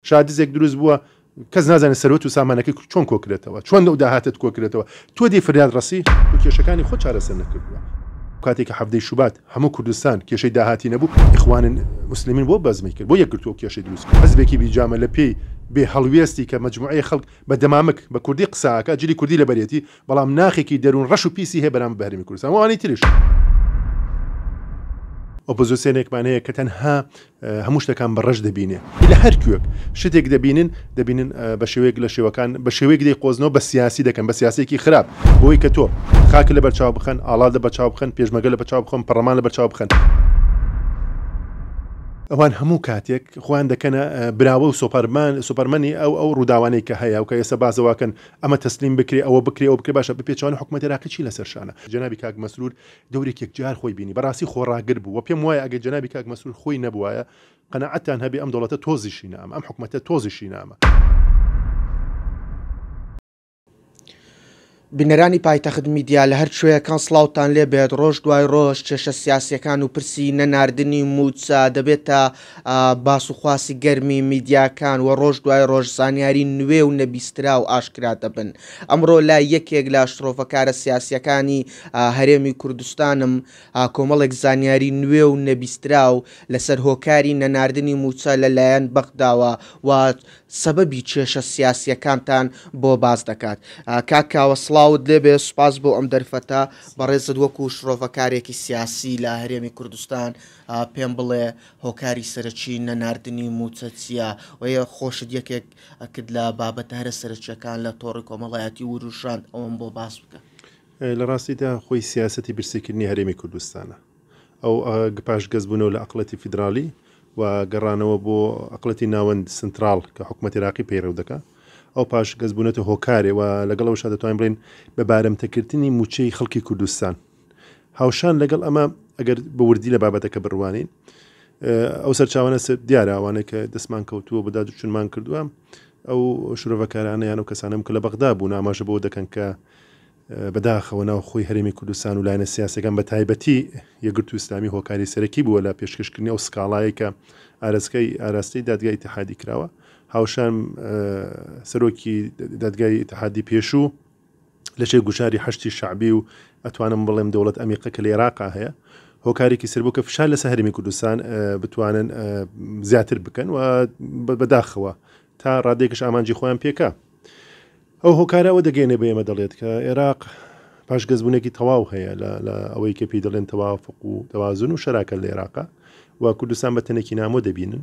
شا دزێک دروست بووە کەس نازانێت سەروەت و سامانەکەی چۆن کۆکرێتەوە چۆن لەو داهاتت کۆکرێتەوە تۆ دەی فریاد ڕەسی و کێشەکانی خۆ چارەسەر نەکردووە کاتێکی حەڤدەی شوبات هەموو کوردستان کێشەی داهاتی نەبوو ئیخوانن مسلمین بۆ بەزمی کرد بۆ یەکگرتووە کێشەی دروست حزبێکی بیجامە لە پێی بێ هەڵوێستی کە مجموعەی خەڵک بە دەمامک بە کوردی قساکە جلی کوردی لەبەرێتی بەڵام ناخێکی دەروون ڕەش و پیسی هەیە بەرامبەر بە هەرێمی کوردستان و ئەوانی ترش. ئۆپۆزیسیۆنێکمان هەیە کە تەنها هەموو شتەکان بە ڕەش دەبینێ لە هەر کوێک شتێک دەبینن دەبینن بە شێوەیەک لە شێوەکان بە شێوەیەک دەی قۆزنەوە بە سیاسی دەکەن بە سیاسێکی خراپ بۆی کە تۆ خاک لە بەرچاو بخەن ئاڵا لە بەچاو بخەن پێشمەگە لە بەچاو بخۆن پەڕەمان لە بەرچاو بخەن. ئەوان هەموو کاتێک خۆیان دەکەنە براوە و سۆپەرمان سۆپەرمەنی ئەو ئەو ڕووداوانەی کە هەیە و کە ئێستا باسەواکەن ئەمە تەسلیم بکرێ ئەوە بکرێ ئەوە بکرێ باشە بپێچەوانە حکومەتی عێراقی چی لەسەر شانە جەنابی کاک مەسرور دەورێک یەکجار خۆی بینی بەڕاستی خۆڕاگر بوو وە پێم وایە ئەگەر جەنابی کاک مەسرور خۆی نەبوایە قەناعەتتان هەبێ ئەم دەوڵەتە تۆزیشی نامە ئەم حکومەتە تۆزیشی نامە. بینەرانی پایتەخت میدیا لە هەر کوێیەکان سڵاوتان لێبێت ڕۆژ دوای ڕۆژ کێشە سیاسیەکان و پرسی نەناردنی موچە دەبێتە باس و خواسی گەرمی میدیاکان و ڕۆژ دوای ڕۆژ زانیاری نوێ و نەبیستراو ئاشکرا دەبن. ئەمڕۆ لای یەکێک لە شڕۆڤەکارە سیاسییەکانی هەرێمی کوردستانم کۆمەڵێک زانیاری نوێ و نەبیستراو لەسەر هۆکاری نەناردنی مووچە لە لایەن بەغداوە و سەبەبی کێشە سیاسییەکانتان بۆ باس دەکات. کاک کاوە سڵاوت لێ بێ، سوپاس بۆ ئەم دەرفەتە بەڕێزت وەکوو شڕۆڤەکارێکی سیاسی لە هەرێمی کوردستان. پێم بڵێ هۆکاری سەرەکی نەناردنی مووچە چییە؟ وە یە خۆشت یەکێک ئەکرد لە بابەتە هەرە سەرەکییەکان لە تۆڕی کۆمەڵایەتی ورووژاند ئەوەم بۆ باس بکە. لە ڕاستیدا خۆی سیاسەتی برسیکردنی هەرێمی کوردستانە. ئەو پاش گەزبوونەوە لە ئەقڵیەتی فیدراڵی و گەڕانەوە بۆ ئەقڵیەتی ناوەند، سنتراڵ، کە حکومەت ئێراقی پەیڕەو دەکا، ئەو پاش گەزبوونەتە هۆکارێ و لەگەڵ ئەوەشا دەتوانین بڵێین بە بارمتەکردنی مووچەی خەڵکی کوردستان. هاوشان لەگەڵ ئەمە ئەگەر بە وردی لە بابەتەکە بڕوانین ئەو سەرچاوانە دیاراوانە کە دەستمان کەوتووە بەدا دوچونمان کردووە ئەو شرۆڤەکارانە یان و کەسانم کە لە بەغدا بوو ناماژە بۆ دەکەن کە بەداخەوە ناو خۆی هەرێمی کوردستان و لایەنە سیاسەکان بە تایبەتی یەگرتو ئسلامی هۆکاری سەرەکی بووە لە پێشکەشکردنی ئەو سکاڵایەکە ئارسکەی ئاراستەی دادگای تحادی کراوە هاوشان سەرۆکی دادگای تحادی پێشوو لەشێ گوشاری حەشدی شەعبی و ئەتوانم بڵێم دەوڵەت ئەمیقە کە لە ئێراقا هەیە هۆکارێکی سەر بوو کە فشار لەسە هەرمی کوردستان بتوانن زیاتر بکەن و بەداخەوە تا ڕادێکش ئامانجی خۆیان پێکا ئەو هۆکارەوە دەگەێنێ بە ئێمە دەڵێت کە عێراق پاشگەزبوونێکی تەواو هەیە لە ئەوەی کە پێی دەڵێن تەوافق و دەوازن و شەراکە لە عێراقا و کوردستان بە تەنێکی نامۆ دەبینن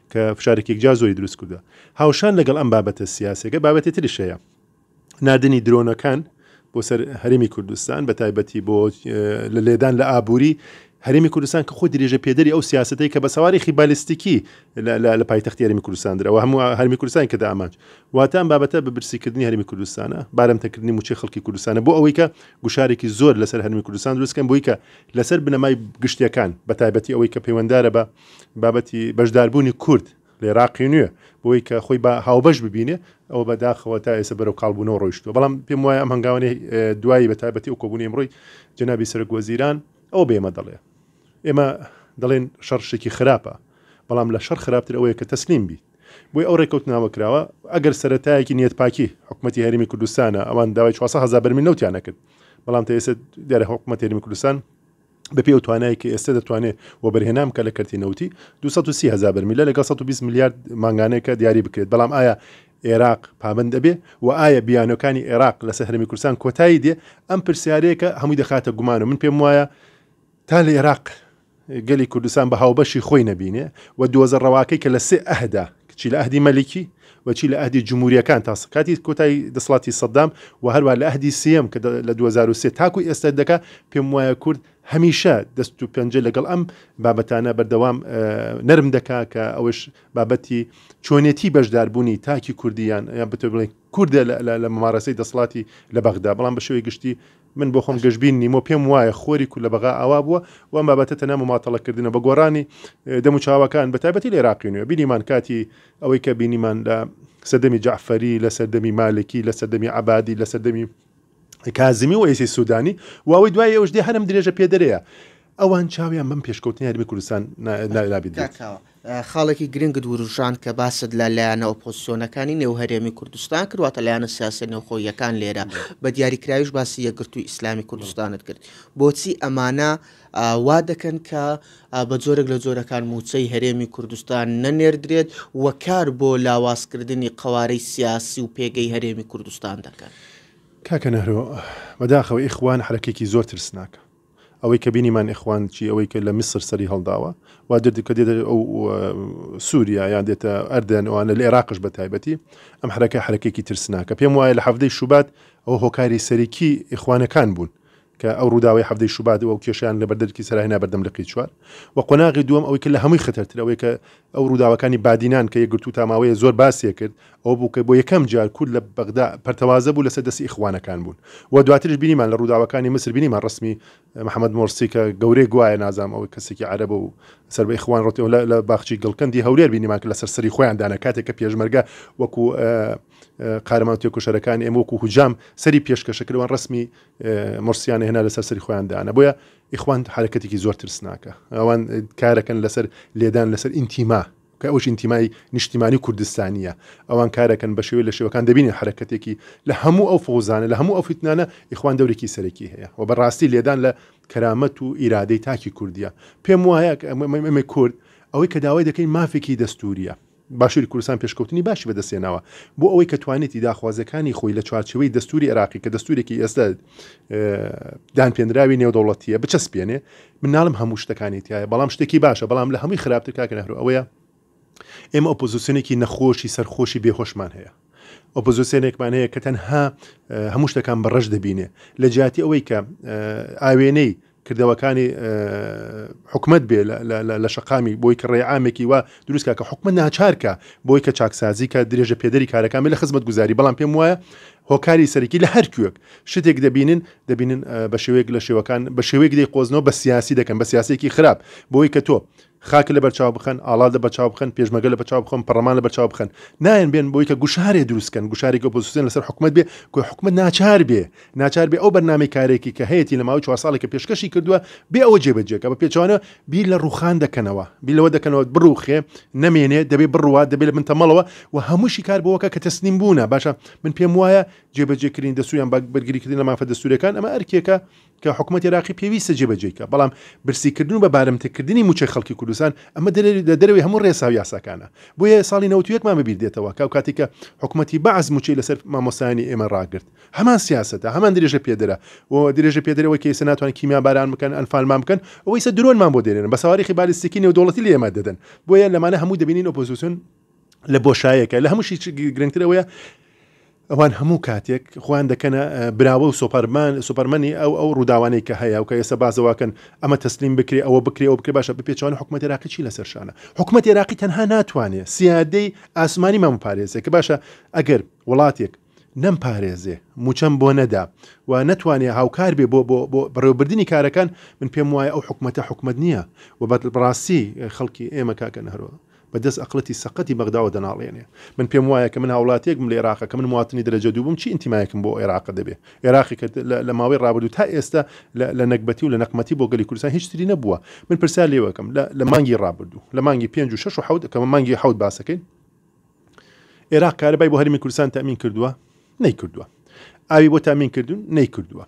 کە فشارێکی یەکجار زۆری دروست کردووە. هاوشان لەگەڵ ئەم بابەتە سیاسیەکە بابەتی تریش هەیە. ناردنی درۆنەکان بۆ سەر هەرێمی کوردستان بە تایبەتی بۆ لە لێدان لە ئابووری هەرێمی کوردستان کە خۆ درێژە پێدەری ئەو سیاستەی کە بە سەوارێکی بالیستیکی لە پایتەختی هەرمی کوردستان درەوە هەموو هەرمی کوردستان کە دامانج واتان بابەتە بە برسیکردنی هەرمی کوردستانە بارمتەکردنی موچی خەڵکی کوردستانە بۆ ئەوەی کە گوشارێکی زۆر لەسەر هەرمی کوردستان دروستکەن بۆی کە لەسەر بنەمای گشتیەکان بە تایبەتی ئەوەی کە پەیوەندارە بە بابەتی بەشداربوونی کورد لە ئێراقی نوێ بۆی کە خۆی بە هاوبەش ببینێ ئەوە بە داخەوە تا ئێسە بەرەو کاڵبوونەوە ڕۆیشتوە بەڵام پێم وایە ئەم هەنگاوانەی دوایی بە تایبەتی و کۆبوونی ئەمڕۆی جەنابی سەرک وەزیران ئەو بێمە دەڵێ ئێمە دەڵێن شەڕ شتێکی خراپە بەڵام لە شەڕ خراپتر ئەوەیە کە تەسلیم بیت بۆی ئەو ڕێکەوتناوە کراوە ئەگەر سەتایەکی نیەت پاکی حکوومەتتی هەرمی کوردستانە ئەوان داوای 400 هزار بەرمی نەوتیانە کرد بەڵام تەێسە دیارە حکوومەت هەرمی کوردستان بە پێی ئەو توانای کە ئێستا دەتوانێت وەبەرهێنان بکە لە کەرتی نەوتی 230 هزار بەرمیل لە لەگەڵ 120 میلیارد مانگانەیەکە دیاری بکرێت بەڵام ئایا عێراق پابند ئەبێ و ئایا بیانەکانی عێراق لەسەر هەرمی کوردستان کۆتایی دێ ئەم پرسیارەیەکە هەمووی دەخاتە گومان و من پێم وایە تا لە عێراق گەلی کوردستان بە هاوبەشی خۆی نەبینێ و دۆزە ڕەواکەی کە لە سێ ئەهدا چی لە ئەهدی مەلیکی و چی لە ئەهدی جموریەکان تا کاتی کۆتای دەسڵاتی سەدام و هەروا لە ئەهدی سێیەم کە لە دوو هەزار و سێ تاکو ئێستا دەکا پێم وایە کورد هەمیشە دەست و پەنجە لەگەڵ ئەم بابەتانە بەردەوام نەرم دەکا کە ئەوش بابەتی چۆنێتی بەشداربوونی تاکی کوردیان یان بتە بڵێ کوردە لە ممارەسەی دەسڵاتی لە بەغدا بەڵام بە شێوەی گشتی من بۆ خۆم گەشبین نیمۆ پێم وایە خۆری کورد لە بەغا ئاوا بووە و ئەم بابەتە تەنها مماطەڵەکردنە بە گۆڕانی دەم و چاوەکان بە تایبەتی لە عێراقی نوێ بینیمان کاتی ئەوەی کە بینیمان لە سەردەمی جەعفەری لە سەردەمی مالکی لە سەردەمی عەبادی لە سەردەمی کازمی و ئێسی سودانی و ئەوەی دوای ئەوش دێ هەرم درێژە پێدەرەیە ئەوان چاویان بەم پێشکەوتنەی هەرێمی کوردستان نابێت بێت. کاکاوە، خاڵێکی گرنگت وروژاند کە باست لە لایەنە ئۆپۆزسیۆنەکانی نێو هەرێمی کوردستان کرد، واتە لایەنە سیاسییە نێوخۆییەکان لێرە، بە دیاریکراویش باسی یەکگرتووی ئیسلامی کوردستانت کرد. بۆچی ئەمانە وا دەکەن کە بە جۆرێک لە جۆرەکان مووچەی هەرێمی کوردستان نەنێردرێت و کار بۆ لاوازکردنی قەوارەی سیاسی و پێگەی هەرێمی کوردستان دەکەن؟ کاکە نەهرۆ، بەداخەوە ئیخوان حەرەکەیەکی زۆر ترسناکە. ئەوەی کە بینیمان ئیخوان چی ئەوەی کە لە میسر سەری هەڵداوە وا دێت کە دێتە ئەو سووریا یان دێتە ئەردەن ئەوانە لە عێراقش بە تایبەتی ئەم حرەکە حرەکێکی ترسناکە پێم وایە لە حەفتەی شوبات ئەو هۆکاری سەرەکی ئیخوانەکان بوون کە ئەو ڕووداوی حەفتەی شوبات و کێشیان لە بەردەرکی سەرای نابەردەم لقی چوار و قۆناغی دووەم ئەوەی کە لە هەمووی خەتەرتر ئەوەی کە ئەو ڕووداوەکانی بادینان کە یەکگرتوو تا ماوەیە زۆر باسیە کرد ئەوە بوو کە بۆ یەکەم جار کورد لە بەغدا پەرتەوازە بوو لەسەر دەستی ئیخوانەکان بوون و دواتریش بینیمان لە ڕووداوەکانی میسر بینیمان ڕەسمی محەمەد مۆرسی کە گەورەی گوایە نازانم ئەوەی کەسێکی عەرەبە و سەر بە ئیخوان ڕۆتی و لە لە باخچی گڵکەندی هەولێر بینیمان کە لەسەر سەری خۆیان دانا کاتێک کە پێشمەرگە وەکو قارەمان تێکۆشەرەکان ئێمە وەکو هجام سەری پێشکەشە کردوان ڕەسمی مۆرسیانە هێنا لەسەر سەری خۆیان دانا بۆیە ئیخوان حەرەکەتێکی زۆر ترسناکە ئەوان کارەکەن لەسەر لێدان لەسەر ئینتیما کە ئەوش ئینتیمای نیشتیمانی کوردستانیە ئەوان کارەکەن بە شێوەی لە شێوەکان دەبینی حرەکەتێکی لە هەموو ئەو فۆزانە لە هەموو ئەو فیتنانە ئیخوان دەورێکی سەرەکی هەیە و بەڕاستی لێدان لە کەرامەت و ئیرادەی تاکی کوردیە پێم وایە ئەمە کورد ئەوەی کە داوای دەکەین مافێکی دەستوریە باشوری کوردستان پێشکەوتنی باشی بەدەستهێناوە بۆ ئەوەی کە توانێتی داخوازیەکانی خۆی لە چوارچێوەی دەستوری عێراقی کە دەستورێکی ئێستا دانپێنراوی نێودەوڵەتیە بچەسپێنێ منناڵم هەموو شتەکانی تایە بەڵام شتێکی باشە بەڵام لە هەمووی خراپتر کاکە نەهرو ئەوەیە ئێمە ئۆپۆزیسیۆنێکی نەخۆشی سەرخۆشی بێهۆشمان هەیە ئۆپۆزیسیۆنێکمان هەیە کە تەنها هەموو شتەکان بە ڕەش دەبینێ لە جیاتی ئەوەی کە ئاوێنەی کردەوەکانی حکومت بێ لە شقامی بۆی کە ڕێعامێکی وە دروستکە کە حکومت ناچارکە بۆی کە چاکسازی کە درێژە پێدەری کارەکانی لە خزمەت گوزاری بەڵام پێم وایە هۆکاری سەرکی لە هەرکوێک شتێک دەبینن دەبینن بە شێوەیەک لە شێوەکان بە شێوەیەک دەی قۆزنەوە بە سیاسی دەکەن بە سیاسێکی خراپ بۆی کە تۆ خاک لەبەر چاو بخەن، ئاڵا لەبەر چاو بخەن، پێشمەرگە لەبەر چاو بخەن، پەڕڵەمان لەبەر چاو بخەن. نایەن بێن بۆی کە گوشارێ دروست کەن، گوشارێکی ئۆپۆزسیۆن لەسەر حکومەت بێ کە حکومەت ناچار بێ، ناچار بێ ئەو بەرنامەی کارێکی کە هەیەتی لە ماوەی چوار ساڵێک کە پێشکەشی کردووە، بێ ئەوە جێ بەجێ کە. بە پێچەوانەوە بیر لە ڕووخان دەکەنەوە، بیر لەوە دەکەنەوە بڕووخێ، نەمێنێ، دەبێ بڕوات، دەبێ لە بن تەمەڵەوە و هەمووشی کار بەوە کە کە تەسلیم بوونە. باشە من پێم وایە جێ بەجێ کردنی دەستوور یان بەرگری کردن لە مافە دەستوورییەکان ئەمە ئەرکێکە کە حکومەتی عێراقی پێویستە جێبەجێی بکات، بەڵام برسیکردن و بە بارمتەکردنی مووچەی خەڵکی کوردستان، ئەمە لە دەرەوەی هەموو رێسا و یاساکانە. بۆیە ساڵی نەوەد و یەک مان بەبیر دێتەوە کە ئەوکاتی کە حکومەتی بەعس مووچەی لەسەر مامۆستایانی ئێمە راگرت، هەمان سیاسەتە، هەمان درێژەپێدەرە و درێژەپێدەری ئەوەی کە ئێستا ناتوانن کیمیاباران بکەن، ئەنفالمان بکەن، ئەوە ئیستا درۆنمان بۆ دەنێرن، بە سەواریخی بالیستیکی نێودەوڵەتی لێمان دەدەن. بۆیە لەمانە هەمووی دەبینین ئۆپۆزیسیۆن. لە بۆشایەکە لە هەمووشی گرنگتر ئەوەیە ئەوان هەموو کاتێک خۆیان دەکەنە براوە و سۆپەرمان سوپەرمەنی ئەو ئەو ڕووداوانەی کە هەیە و کە ئێستا بازەواکەن ئەمە تەسلیم بکرێ ئەوە بکرێ ئەو بکرێ باشە بپێچوان حکومەت عراقی چی لەسەر شانە حکومەت عێراقی تەنها ناتوانێت سیادەی ئاسمانی مامپارێزێک کە باشە ئەگەر وڵاتێک نەمپارێزێ موچەم بۆ نەدا و نەتوانێ هاوکار بێ بۆ بۆ بۆ بەڕێوەبردنی کارەکان من پێم وایە ئەو حکومەتە حکومەت نییە و بە بەڕاستی خەڵکی ئێمە کاکە نەهرۆ بە دەست ئەقڵەتی سەقەتی بەغداوە دەناڵێنێ من پێم وایە کە من هاوڵاتیەک بم لە ئێراقە کە من مواطنی دەرەجە دوو بووم چی ئینتیمایەکم بۆ ئێراقە دەبێ ئێراقی کە لە ماوەی ڕابردوو تا ئێستە لە لە نەگبەتی و لە نەقمەتی بۆ گەلی کوردستان هیچ تری نەبووە من پرسیار لێوەکەم لە لە مانگی ڕابردوو لە مانگی پێنج و شەش و حەوت کە مانگی حەوت باسەکەین ئێراق کارەبای بۆ هەرمی کوردستان تامین کردووە نەیکردووە ئاوی بۆ تامین کردوون نەیکردووە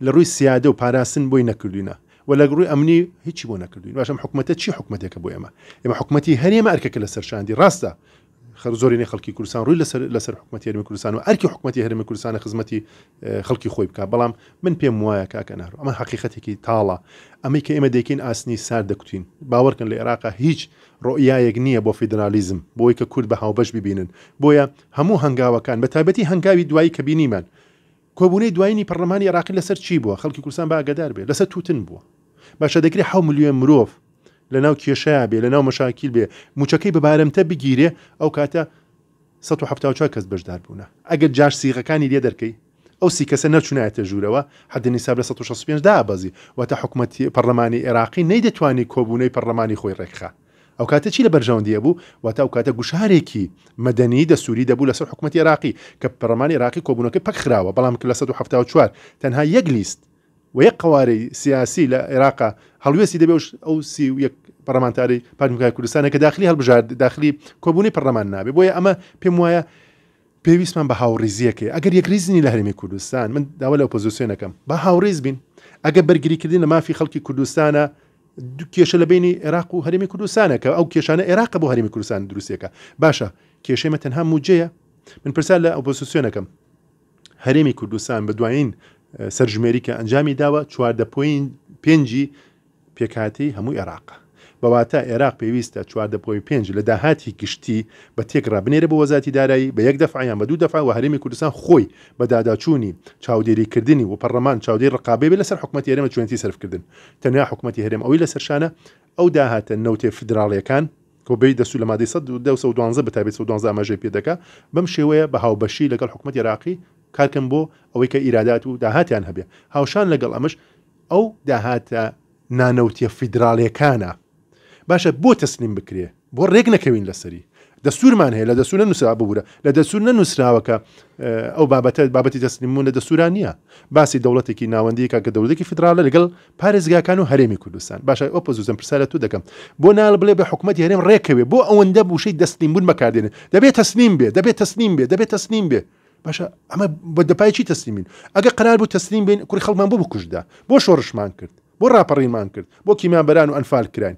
لە ڕووی سیادە و پاراستن بۆی نەکردوینە و لە ڕووی ئەمنی هیچی بۆ نەکردوین باشم حکوومەتە چی حکوومەتێکە بۆ ئێمە ئێمە حکوومەتتی هەرێمە ئەرکەکە لە سەرشاندی ڕاستە خەر زۆرینەی خەڵکی کوردستان ڕووی لەسەر لەسەر حکوومەتی هەرمی کوردستان و ئەرکی حکوومەتی هەرمی کوردستانە خزمەتی خەڵکی خۆی بکات بەڵام من پێم وایە کاکە نارو ئەمە حقیقەتێکی تاڵە ئەمەی کە ئێمە دەکەین ئاسنی سار دەکوتین باوەڕکەن لە عێراقا هیچ ڕۆیایەک نییە بۆ فیدرالیزم بۆی کە کورد بە هاوبەش ببینن بۆیە هەموو هەنگاوەکان بە تایبەتی هەنگاوی دوایی کە بینیمان کۆبوونەی دوایینی پەرلەمانی عێراقی لەسەر چی بووە خەڵکی کوردستان بە ئاگادار بێت لەسەر توتن بووە باشە دەکرێت حەو ملیۆن مرۆڤ لەناو کێشەیە بێ لەناو مەشاکیل بێ موچەکەی بە بارمتە بگیرێ ئەو کاتە سەد و حەفتا و چوار کەس بەشدار بوونە، ئەگەر جار سیغەکانی لێ دەرکەی ئەو سی کەسە نەچونایەتە ژوورەوە حەد نیساب لە سەد و شەست و پێنج دابەزی واتە حکومەتی پەڕلەمانی ئێراقی نەیدەتوانی کۆبوونەوی پەڕلەمانی خۆی ڕێکخا ئەو کاتە چی لە بەرژەوەندی ئەبوو واتە ئەو کاتە گوشارێکی مەدەنی دەستوری دەبوو لەسەر حکومەتی ئێراقی کە پەڕلەمانی ئێراقی کۆبوونەکەی پەکخراوە بەڵام کە لە سەد و حەفتا و چوار تەنها یەک لیست و یەک قەوارەی سیاسی لە عێراقا هەڵوێستی دەبێ و ئەو سی و یەک پەڕەمانتاری پارتیمکای کوردستانە کە داخلی هەڵبژار داخلی کۆبوونی پەڕەمان نابێ بۆیە ئەمە پێم وایە پێویستمان بە هاوڕیزیەکەی ئەگەر یەکریزنی لە هەرمی کوردستان من داوا لە ئۆپۆزیسیۆنەکەم بە هاوڕیز بین ئەگە بەرگریکردن لە مافی خەڵکی کوردستانە کێشە لە بینی عێراق و هەرمی کوردستانە کە ئەو کێشانە عێراق بۆ هەرمی کوردستان دروستەکە باشە کێشێمە تەنها موجەیە من پرسیار لە ئۆپۆزیسیۆنەکەم هەرێمی کوردستان بە دوایین سەرژمێری کە ئەنجامی داوە چواردە پۆین پێنجی پێکهاتەی هەموو عێراقە بەواتە عێراق پێویستە چواردە پۆی پێنج لە داهاتی گشتی بە تێکڕا بنێرە بۆ وەزاتی دارایی بە یەک دەفع یان بە دوو دەفع و هەرێمی کوردستان خۆی بە داداچوونی چاودێری کردنی و پەڕلەمان چاودێری ڕقابەی بێ لەسەر حکومەتی هەرێمە چۆنێتی سەرفکردن تەنیا حکومەتی هەرێم ئەوەی لەسەرشانە ئەو داهاتە نەوتێ فیدراڵیەکان کە بەی دەستوور لە مادەی سەد و دە و سەد و دوازدە بە تایبەتی سەد و دوازدە ئاماژەی پێ دەکا، بەم شێوەیە بە هاوبەشی لەگەڵ حکومەتی عێراقی کار کەن بۆ ئەوەی کە ئیرادات و داهاتیان هەبێ. هاوشان لەگەڵ ئەمەش ئەو داهاتە نانەوتیە فیدراڵیەکانە باشە بۆ تەسلیم بکرێ؟ بۆ ڕێک نەکەوین لەسەری؟ دەستوورمان هەیە لە دەستوور نەنووسرا ببوورە لە دەستوور نەنووسراوە کە ئەو بابەتە بابەتی تەسلیم بوون لە دەستوورا نییە باسی دەوڵەتێکی ناوەندی کە کە دەوڵەتێکی فیدراڵە لەگەڵ پارێزگاکان و هەرێمی کوردستان. باشە ئەو پەزوزەم پرسیار لە تۆ دەکەم بۆ نال بڵێ بە حکومەتی هەرێم ڕێکەوێ بۆ ئەوەندە بوشەی دەسلیم بوون بەکاردێنێ دەبێ تەسلیم بێ دەبێ تەسلیم بێ دەبێ تەسلیم بێ باشە ئەمە بە دەپای چی تەسلیم بین ئەگە قرار بوو تەسلیم بین کوڕی خەڵمان بۆ بکوژدا بۆ شۆڕشمان کرد بۆ ڕاپەڕینمان کرد بۆ کیمیابەران و ئەنفال کراین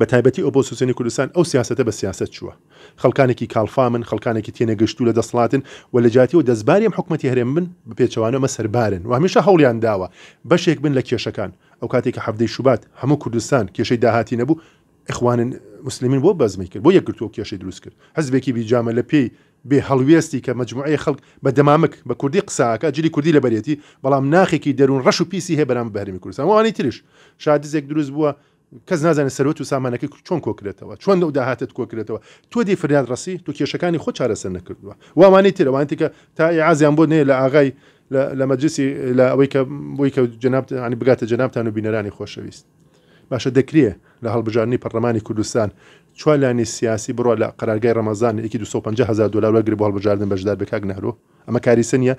بە تایبەتی ئۆپۆسسیۆنی کوردستان ئەو سیاسەتە بە سیاسەت چووە. خەڵکانێکی کاڵفامن، خەڵکانێکی تێنەگەشتوو لە دەسڵاتن و لە جیاتیەوە دەستباری ئەم حکومەتی هەرێم بن، بە پێچەوانەوە مە سەربارن و هەمیشە هەوڵیان داوە بەشێک بن لە کێشەکان. ئەو کاتەی کە حەڤدەی شوبات هەموو کوردستان کێشەی داهاتی نەبوو، ئیخوان موسلیمین بۆ بەزمی کرد، بۆ یەکگرتوو ئەو کێشەی دروست کرد. حزبێکی بی جامە لە پێی بێ هەڵوێستی کە مەجموعەیەک خەڵک بە دەمامک بە کوردی قسە ئەکا، جلی کوردی لەبەرێتی، بەڵام ناخێکی دەروون ڕەش و پیسی هەیە بەرامبەر بە هەرێمی کوردستان و ئەوانەی ترش. شا دزێک دروست بووە. کەس نازانێت سەروەت و سامانەکەی چۆن کۆکرێتەوە چۆن لەو داهاتت کۆکرێتەوە تۆ دی فریاد ڕسی تو کێشەکانی خۆ چارەسەر نەکردووە وانەی ترەوانتی کە تا ئازیان بۆ نەیە لە ئاغای لە مەجلسی لە ئەوەی کە بۆی کە جناب عنی بگاتە جنابتان و بینەرانی خۆشەویست باشە دەکرێ لە هەڵبژاردننی پەرلەمانی کوردستان چوالانی سیاسی بڕۆ لە قەرارگای ڕەمەزان یەکی 250 هزار دلار وەرگری بۆ هەڵبژاردن بەشدار بە کاک نەهرۆ ئەمە کاریسە نیە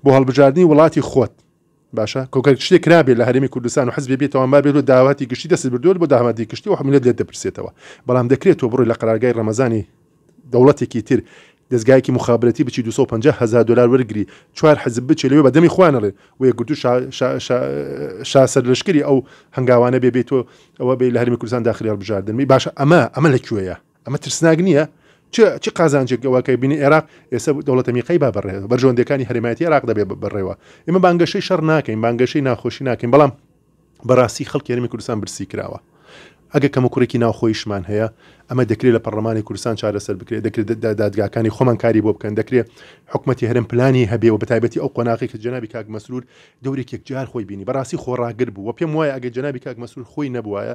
بۆ هەڵبژاردننی وڵاتی خۆت باشە کۆگەر شتێ کرابێت لە هەرێمی کوردستان و حزبێ بێتەوان بابێت لە داواتی گشتی دەست بردووە بۆ داهاتی گشتی و حملت لێت دەپرسێتەوە بەڵام دەکرێت تۆ بڕۆی لە قەرارگای ڕەمەزانی دەوڵەتێکی تر دەستگایەکی مخابرەتی بچی 250 هزار دلار وەرگری چوار حزب بچێ لەوێ بە دەمی خوانەڵێ و یەکگرتو شاسەر لەشکری ئەو هەنگاوانە بێ بێت تۆ ئەوە بێ لە هەرمی کوردستان داخلی هەڵبژاردنمی باشە ئەمە ئەمە لە کوێیە ئەمە ترسناک نییە؟ چ چ قازانجێک ئەوە کە بینی عێراق ئێستا دەوڵەتە میقەی با بەڕێ بەرژەوەندەکانی هەرێمایەتی عێراق دەبێت بەڕێوە ئێمە بانگەشەی شەڕ ناکەین بانگەشەی ناخۆشی ناکەین بەڵام بەڕاستی خەڵکی هەرمی کوردستان برسی کراوە ئەگە کەمە کوڕێکی ناوخۆیشمان هەیە ئەمە دەکرێت لە پەرلەمانی کوردستان چارەسەر بکرێت دەکرێت دادگاکانی خۆمان کاری بۆ بکەن دەکرێت حکوومەتتی هەرم پلانی هەبێ و بەتایبەتی ئەو قۆناقی کە جنابی کاک مەسرور دەورێک یەکجار خۆی بینی بەڕاستی خۆڕاگر بوو پێم وایە ئەگە جنابی کاک مەسرور خۆی نەبووایە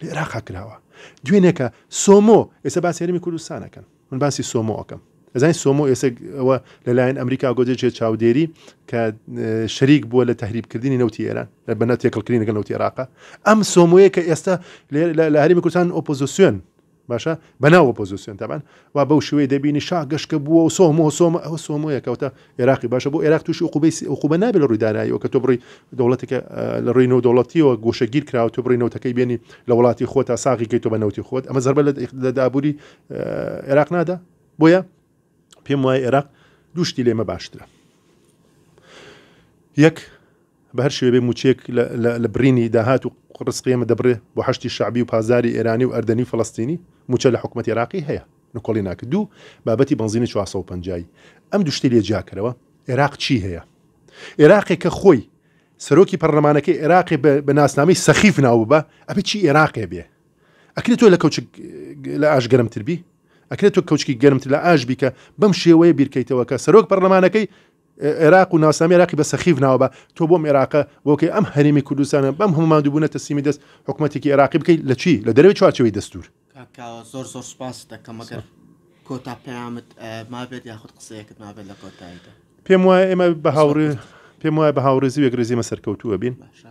لە ئێراقا کراوە دوێنێکە سۆمۆ ئێستا باسی هەرمی کوردستانەکەن من باسی سۆمۆ ئەەکەم ئەزای سۆمۆ ئێستا ئەوە لەلایەن ئەمریکا گۆدێژێت چاودێری کە شەریک بووە لە تهریبکردنی نەوتی ئێران لە بەنە تێکەڵکردنی لەگەڵ نەوتی عێراقا ئەم سۆمۆیە کە ئێستا لە هەرمی کوردستان ئۆپۆزیسیۆن باشە بە ناو ئۆپۆزیسیۆن تەبان وا بەو شوێ دەبینی شا گەشکە بووە و سۆمۆ سۆمە ئەوە سۆمۆیە کەوتە عێراقی باشە بۆ عێراق تووشی قوبیسی ئەو قوبە نابێت لە ڕووی داراییەوە کە تۆ بڕی دەوڵەتێکە لە ڕووی نەوە دەوڵەتیەوە گۆشەگیر کراوە تۆ بڕی نەوتەکەی بێنی لە وڵاتی خۆ تا ساغی کەی تۆ بە نەوتی خۆت ئەمە زەربە لە دابووری عێراق نادا بۆیە پێم وای عێراق دووشتی لێمە باشترە یەک بەهەر شێوەیەک بێ مووچەیەک لە بڕینی داهات و ڕسقی ئێمە دەبرێ بۆ حەشدی شەعبی و پازاری ئێرانی و ئەردەنی و فەلەستینی مووچە لە حکوومەتی عێراقی هەیە نکۆڵی ناکرد دوو بابەتی بەنزینی 450 ئەم دوو شتەی لێ جیاکەرەوە عێراق چی هەیە عێراقێک کە خۆی سەرۆکی پەرلەمانەکەی عێراقی بە ناسنامەی سەخیف ناو ببە ئەبێ چی عێراقێ بێ ئەکرێت تۆ لە کەوچ لە ئاش گەرمتر بی ئەکرێت تۆ کەوچکی گەرمتر لە ئاش بی کە بەم شێوەیە بیرکەیتەوە کە سەرۆک پەرلەمانەکەی عێراق و ناسنامی عێراقی بە سەخیف ناوە بە تۆ بۆم عێراقە بۆکەی ئەم هەرێمی کوردستانە بەم هەموو ماندووبوونە تەسلیمی دەست حکومەتێکی عێراقی بکەی لە چی لە دەرەوەی چوارچێوەی دەستوور کاک کاوە زۆر زۆر سوپاست دەکەم ئەگەر کۆتا پەیامت مابێت یاخود قسەیەکت مابێت لە کۆتاییدا پێم وایە ئێمە بە هاوڕێ پێم وایە بە هاوڕێزی و یەکڕێزی ئێمە سەرکەوتووە بین باشە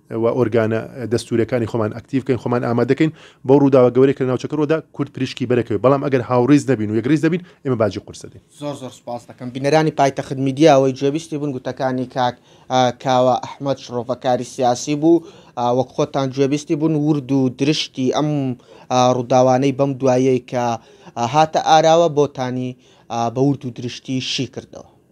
و ئۆرگانە دەستوورەکانی خۆمان ئەکتیڤ بکەین خۆمان ئامادە کەین بۆ ڕووداوە گەورەی کە ناوچەکە ڕۆدا کورد پریشکی بەرەکەوێ بەڵام ئەگەر هاوڕیز نەبین و یەکڕیز نەبین ئێمە باجی قورسە دەین زۆر زۆر سپاس دەکەم بینەرانی پایتەخت میدیا ئەوەی جێبیستی بوون گوتەکانی کاک کاوە ئەحمەد شڕۆڤەکاری سیاسی بوو وەک خۆتان جێبیستی بوون ورد و درشتی ئەم ڕووداوانەی بەم دوایەی کە هاتە ئاراوە بۆتانی بە ورد و درشتی شی کردەوە